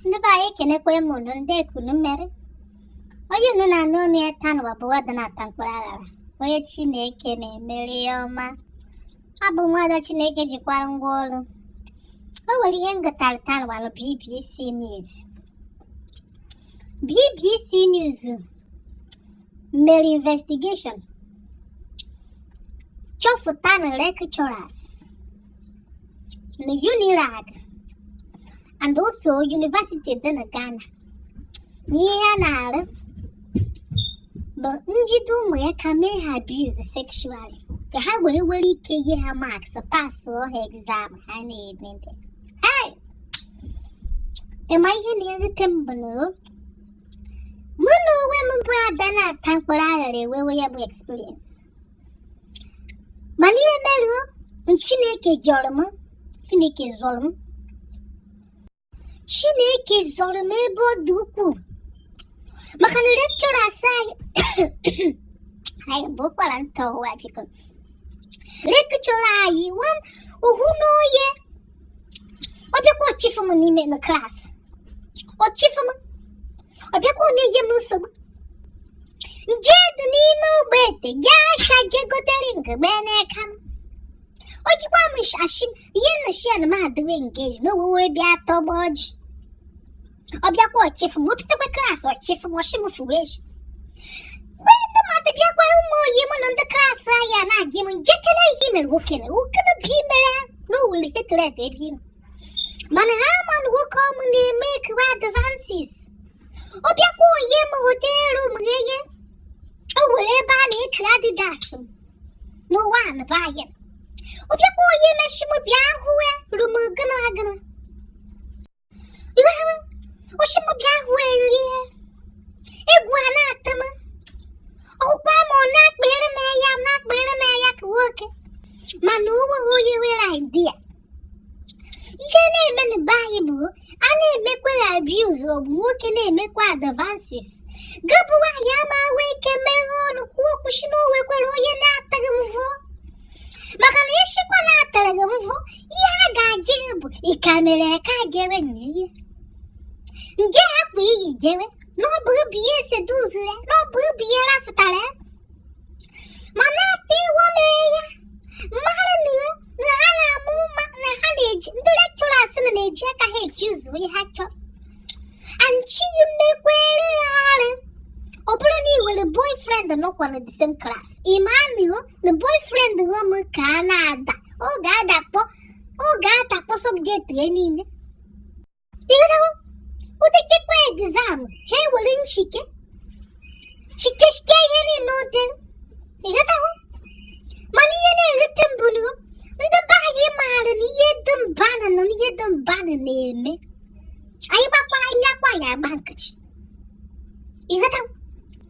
ndị be anyị ekenekwa m unu ndee ka unu mere onye unu na-anụ ọnụ ya taa nwa bụ ada na-ata mkpụrụ aghara onye chineke na-emere ihe ọma abụ m nwada chineke jikwara ngwa ọrụ o nwere ihe m gụtara taa nwa na bbc news bbc news mere investigation chọpụta na lecturers na UNILAG and also University dị na Ghana na ihe ha na-arụ bụ njide ụmụaka mee ha abuse sexually ka ha wee nwee ike nye ha marks pasụọ ha exam ha na-ede ị ma ihe na-ewute m bụ na mụ na onwe m bụ ada na-ata mkpụrụ aghara enwewe ya bụ experience mana ihe mere chineke zọrọ m chineke zọrọ m chineke zọrọ m ebe ọ dị ukwuu maka na lecturer asa anyị anyị bụ ụkwara nta ụwa biko lecturer anyị nwa m ohu n'oye ọ bịakwa ọ chịfụ m n'ime na klaasị ọ chịfụ m ọ bịakwa na-enye m nsogbu m jedị n'ime Ogbete je ahịa je gote ring gba n'aka m o jikwa m ashị ihe m shị ya na m adịwe engage na e nwewe bịa tọgbọ ọjị Ọ bịakwa ọ chịfụ m o bitekwa klaasị ọ chịfụ m ọ shị m fụwe ezi mgbe ndị mmadụ bịakwa ụmụ oyi mụ na ndị klaasị anyị ana-ajụ m njekere ihe mere nwoke na nwoke na bi mere na owere tetlet ebe ime mana ha ma na nwoke ọmụ na-emekwa advances ọ bịakwa o nye m hotel room gheye o nwere ebe a na-eke adidas m n'ụwa a na be anyị ọ bịakwa o nye m shị m bịa hụ ya room gịnị agịnị Iwe ha ọ shị m bịa hụ ya egwu ana-atụ m ọkwa ma ọ na-akpịrị m ya na-akpịrị m ya ka nwoke mana o nweghị onye nwere idea ihe na-eme na be anyị bụ a na-emekwa ya abuse ọ bụ nwoke na-emekwa advances gị bụ nwaanyị ama enwe ike meghe ọnụ kwuo okwu sị na o nwekwara onye na-atụ gị mvọ maka na ị sịkwa na a tụrụ gị mvọ ihe a ga-ajụ gị bụ ịka mere ka jewe na ihe nje akwa i yi jewe na ọ bụrụ bụ ihe seduce ya na ọ bụrụ bụ ihe rafụtara ya ma na-ata iwe mee ya mmadụ na iwe na ha na-ama ụma na ha na-eji ndị lecturers na na-eji aka ha eji ụzọ ihe ha chọrọ anchi mekwere ya arụ ọ bụrụ na ị nwere boyfriend nọkwa na the same class ị ma anụ na boyfriend gho m ka a na-ada ọ ga-adakpọ subject ya niile ịghọtawo o dekekwa exam ha ewere nchike chikechike ihe niile ụdị ịghọtawo mana ihe na-ewute m bụ na ndị be anyị maara na ihe dị mba na na ihe dị mba na na-eme anyị gbakwa anyị akwa ya agba nkịchị ịghọtawo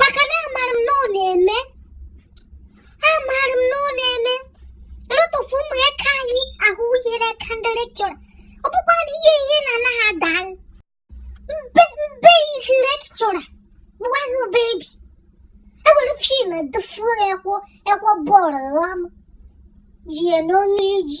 maka na amaara m na ọ na-eme amaara m na ọ na-eme a lot of ụmụaka anyị ahụ yere aka ndị lecturer ọ bụkwa na ihe ihe na anaghị ada mbe mbe ihe lecturer bụwaghị baby ewere pin dụfuo ekwo ekwo bọọlụ ọma jie n'ọnụ iji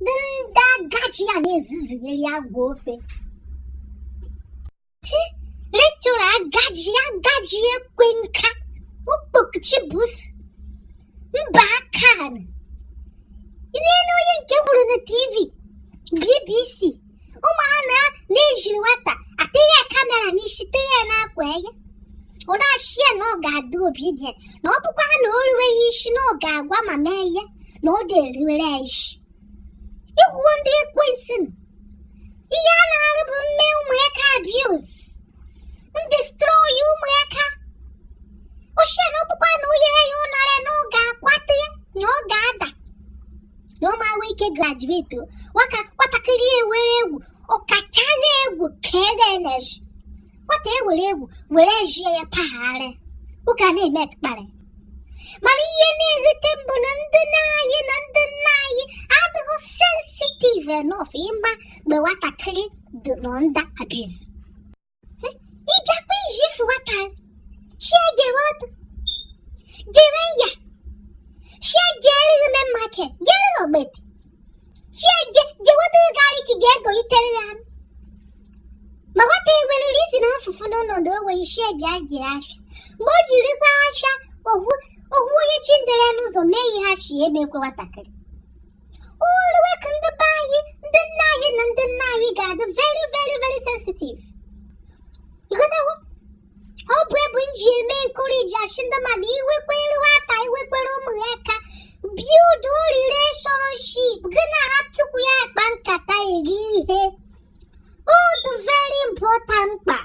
ndị ndị agachi ya na-ezizigharị agwa ofe lecturer agaji agaji ekwe nka okpokchibus mba akan ị na-ele onye nke wuru na tv bbc ụmụ ha na na-ejiri nwata atinye camera n'isi tinye n'akwa ya ọ na-asị ya na ọ ga-adị obedient na ọ bụkwa na o ruweghị isi na ọ ga-agwa mama ya na ọ dịghị eruwere ya isi igwuo ndị ekwensu ihe ha na-arụ bụ ime ụmụaka abuse na destroy ụmụaka ọ sị ya na ọ bụkwa na onye ya ụnara na ọ ga-akwata ya na ọ ga-ada na ọ ma-enwe ike graduate nwaka nwatakịrị ewere egwu ọkachaghị egwu ka ede na-eji nwata ewere egwu were jie ya pagharị ụka na-eme kparị mana ihe na-ewute m bụ na ndị nne anyị na ndị nna anyị adịghị sensitive enough ịma mgbe nwatakịrị dị nọ under abuse Ị bịa ka ị fụ nwata. She jewot. Jewe n'ahịa. She jeri ime market. Jeri obet. She je jewot gari ki ge go itere ya. Ma nwata ewere isi na mfufu n'ọnọdụ enweghị ishi bịa jiri ahịa. Mgbe o jirikwa ahịa ohu ohu onye chi ndere n'ụzọ mee ihe ha shi emekwe nwatakịrị. o ruwe ka ndị be anyị ndị nne anyị na ndị nna anyị ga-adị very very very sensitive ịghọtawo ọ bụ ebe m ji eme encourage asị ndị mmadụ i nwekwere nwata i nwekwere ụmụaka build relationship gị na ha tupu ya akpa nkata eri ihe ọ dị very important mkpa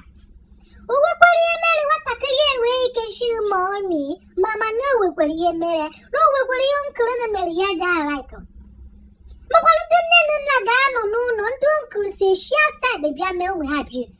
o nwekwara ihe mere nwatakịrị enwee ike shi mummy mama na o nwekwara ihe mere ya na o nwekwara ihe uncle na-emere ya ga-like makwara ndị nne na nna ga-anọ n'ụlọ ndị uncle si eshi outside bịa mee ụmụ ha abuse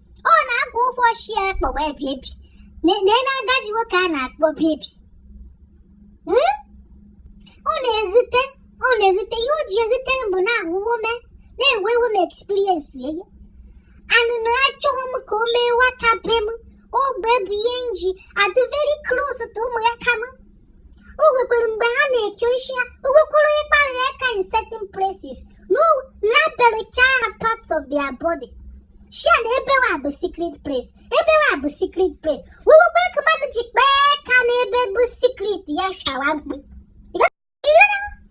ọ na-akwa ụkwụ ọ shị ya kpọwa ya baby nene agaji nwoke a na-akpọ baby hmm? ọ na-erute ọ na-erute ihe o ji erute m bụ na awụ m woman enwewo m experience ya ana achọghị m ka o mee nwata be m ọ bụ ya bụ ihe m ji adụ very close to ụmụaka m o nwekwara mgbe ha na-eke isi ha o nwekwara onye kpara ya aka in certain places m labelcha ha parts of their body shị ha na ebewa bụ secret place ebewa bụ secret place o nwekwara ka mmadụ ji kpa ya aka na ebe bụ secret ya shawa mkpu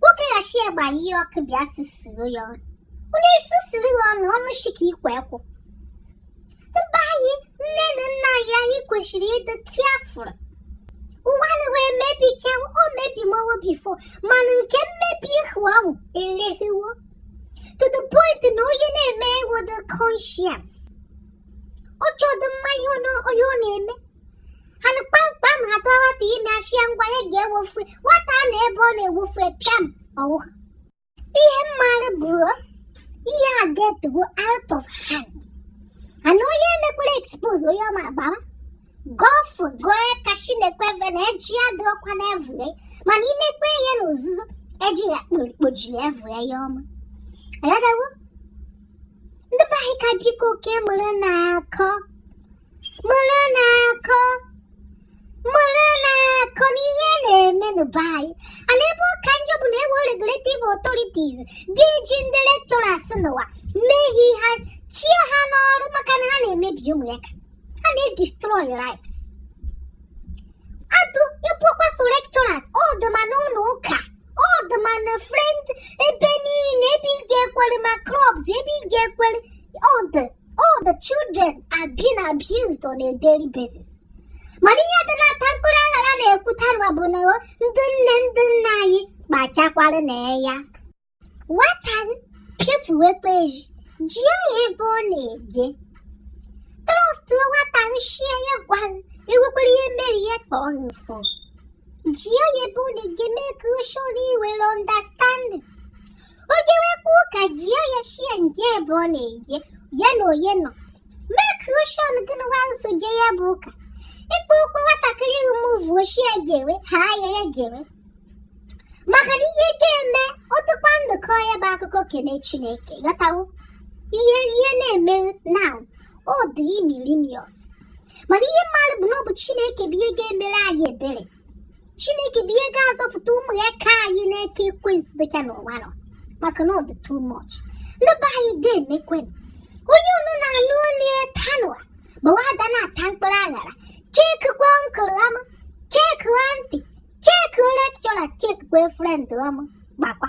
nwoke ghachi egbe ihe ọkụ bịa sisiri ya ọnụ onye sisiri ya ọnụ ọnụ shi ka ikwe ekwụ ndị be anyị nne na nna anyị anyị kwesịrị ịdị careful ụwa na wee mebi ke o mebi mowo before mana nke mmebi ihu ahụ erehiwo to the point na onye na-eme enwedụ conscience ọ chọdụ ịma ihe ọ na-eme ha nụ kpamkpam ha tụọ nwata ime ashị ya ngwa ya ga-ewofu nwata ana ebe ọ na-ewofu pịam ọ nwụọ ihe m maara bụ na ihe a egetigo out of hand ana onye e mekwere expose onye ọma gbara gọfụ goe ka chinekwe ve na eji ya dị ọkwa na evule mana i mekwe ihe na ozuzo eji ya kpojiri evule ya ọma ayadawo ndị be anyị ka biko oke mụrụnụ akọ mụrụnụ akọ mụrụnụ akọ n'ihe na-eme na be anyị ana ebe ọ ka njọ bụ na enweghị regulative authorities ga-eji ndị lecturers nụwa mee ihe ha chụa ha n'ọrụ maka na ha na-emebi ụmụaka ha na-edestroy lives adụ ekwukwa sọ lecturers ọ dụ ma n'ụlọ ụka ọ dụ ma na friend ebe niile ebe ị ga-ekwere ma clubs ebe ị ga-ekwere ọ dụ all the children are being abused on a daily basis mana ihe dị na-ata mkpụrụ aghara na-ekwuta nwa bụ na ndị nne ndị nna anyị kpachakwara anya nwata pịafuwekwa ezi jụọ ya ebe ọ na-eje trust nwata shị ya ya gwa e nwekwara ihe mere ya ka ọ na-afụ jụọ ya ebe ọ na-eje make sure na i nwere understanding o jewekwa ụka jụọ ya shị ya nke ebe ọ na-eje ya na onye nọ make sure na gịnwa so je ya bụ ụka ịkpọ ụkpọ nwatakịrị umuvu shị ya jewe ha ya ya jewe maka na ihe ga-eme ọ dụkwa ndụ kọọ ya bụ akụkọ kene chineke ghọtawo ihe ihe na-eme na ọ dị imirimious mana ihe m maara bụ na ọ bụ chineke bụ ihe ga-emere anyị ebere chineke bụ ihe ga-azọpụta ụmụaka anyị n'aka ekwensu dịka n'ụwa nọ maka na ọ dị too much ndị be anyị deemekwenụ onye unu na-anụ olu ya tanụwa bụ nwa ada na-ata mkpụrụ aṅara check uncle ọma check aunty check lecturer check boyfriend ọma gbakwa